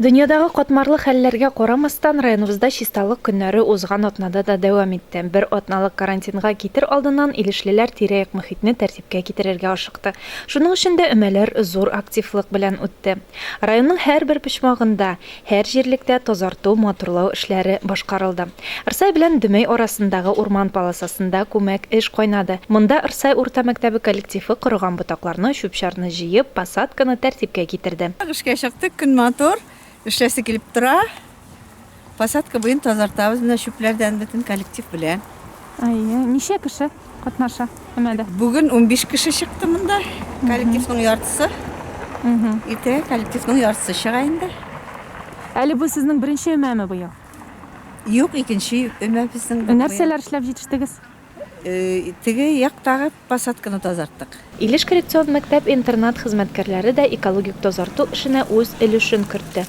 Дөньядагы катмарлы хәлләргә карамастан, районыбызда Чисталык көннәре узган атнада да дәвам итте. Бер атналык карантинга китер алдыннан илешлеләр тирә-як мохитне тәртипкә китерергә ашыкты. Шуның өчен дә өмәләр зур активлык белән үтте. Районның һәрбер почмагында, һәр җирлектә тазарту, матурлау эшләре башкарылды. Рсай белән Дөмәй арасындагы урман полосасында күмәк эш кайнады. Монда Рсай урта мәктәбе коллективы корыган ботакларны, чүп-чарны җыеп, посадканы тәртипкә китерде. Эшкә чыктык, көн матур, эшләсе килеп тора. Посадка буен тазартабыз менә чүпләрдән бөтен коллектив белән. Әйе, ничә кеше катнаша өмәдә? Бүген унбиш кеше чыкты монда, коллективның яртысы. Иртәгә коллективның яртысы чыга инде. Әле бу сезнең беренче өмәме быел? Юк, икенче өмә безнең. Ә нәрсәләр эшләп җитештегез? Теге яктагы посадканы тазарттык. Илеш коррекцион мәктәп-интернат хезмәткәрләре дә экологик тазарту эшенә үз өлешен кертте.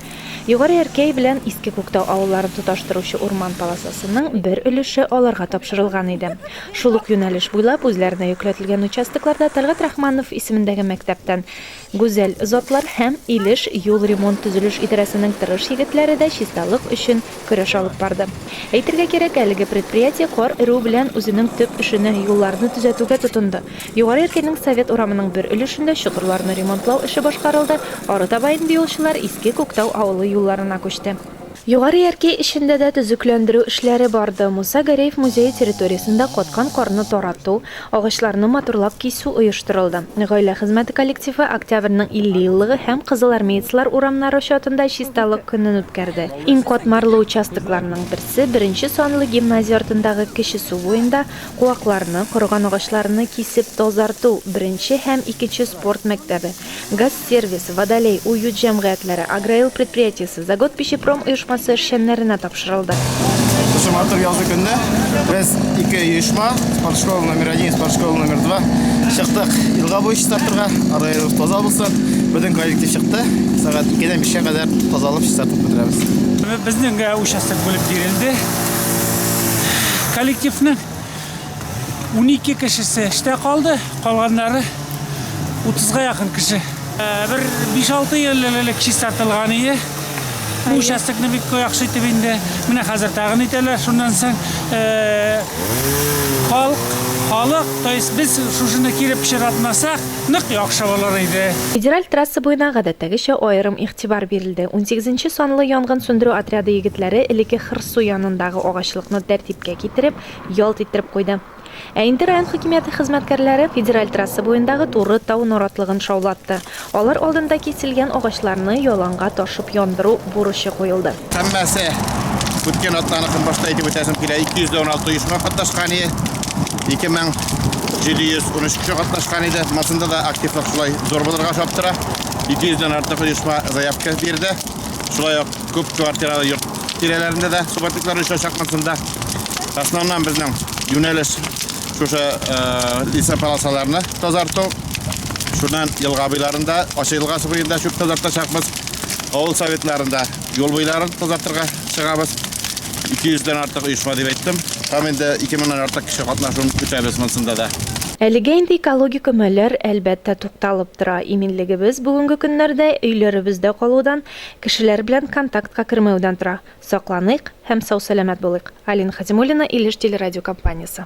Югары Әркәй белән Иске Күктау авылларын тоташтыручы урман полосасының бер өлеше аларга тапшырылган иде. Шул ук юнәлеш буйлап үзләренә йөкләтелгән участокларда Тәлгать Рахманов исемендәге мәктәптән Гүзәл затлар һәм Илеш юл ремонт-төзелеш идарәсенең тырыш егетләре дә чисталык өчен көрәш алып барды. Әйтергә кирәк, әлеге предприятие кар эрү белән үзенең төп эшенә, юлларны төзәтүгә тотынды. Югары Яркәйнең Совет урамының бер өлешендә чокырларны ремонтлау эше башкарылды, арытаба инде юлчылар Иске Күктау авылы юлларына күчте. Югары Яркәй эчендә дә төзекләндерү эшләре барды. Муса Гәрәев музее территориясендә каткан карны тарату, агачларны матурлап кисү оештырылды. Гаилә хезмәте коллективы Октябрьнең 50 еллыгы һәм Кызылармеецлар урамнары чатында Чисталык көнен үткәрде. Иң катмарлы участокларның берсе, беренче санлы гимназия артындагы Кече Су буенда куакларны, корыган агачларны кисеп тазарту, беренче һәм икенче спорт мәктәбе, газ, Сервис, Водолей, Уют җәмгыятьләре, Агроил предприятиесе, Заготпищепром оешмасы эшчәннәренә тапшырылды. Шушы матур язгы көндә без ике оешма, спортшкола номер один, спортшкола номер два, чыктык елга буе чистартырга, араларыбыз таза булсын. Безнең коллектив чыкты, сәгать икедән бишкә кадәр тазалап чистартып бетерәбез. Безнең участок бүлеп бирелде коллективның. 12 кешесе эштә калды, калганнары 30-га якын кеше. Э, бер 5-6 ел элек чистартылган ие. Бу участокны бик яхшы итеп инде менә хәзер тагын итәләр. Шуннан соң э, халык халык, то есть без шушыны кире пычратмасак, нык яхшы булыр иде. Федераль трасса буена гадәттәгечә аерым игътибар бирелде. 18 санлы янгын сүндерү отряды егетләре элеке Хырсу янындагы агачлыкны тәртипкә китереп, Ялт иттереп куйды. Ә инде район хакимияте хезмәткәрләре федераль трасса буендагы туры тау наратлыгын шаулатты. Алар алдында киселгән агачларны яланга ташып яндыру бурычы куелды. Һәммәсе үткән атнаны көнбашта итеп үтәсем килә. 216 оешма катнашкан иде. 2713 кеше катнашкан иде. Масында да активлык шулай зур булырга охшап тора. 200 дән артык оешма заявка бирде. Шулай ук Күп квартиралы йорт тирәләрендә дә субатиклар оча чакмасын да. Основном безнең юнәлеш шушы лиса полосаларны тазарту. Шуннан елга буйларында, ачы елга буенда чүп тазартачакбыз. Авыл советларында юл буйларын тазартырга чыгабыз. 200 дән артык оешма дип әйттем. Һәм инде 2000 нан артык кеше катнашуын көтәбез монсында да. Әлегә инде экологик өмәләр, әлбәттә, тукталып тора. Иминлегебез бүгенге көннәрдә өйләребездә калудан, Кешеләр белән контактка кермәүдән тора. Сакланыйк һәм сау-сәламәт булыйк. Алина Хәтимуллина, Илеш телерадиокомпаниясе.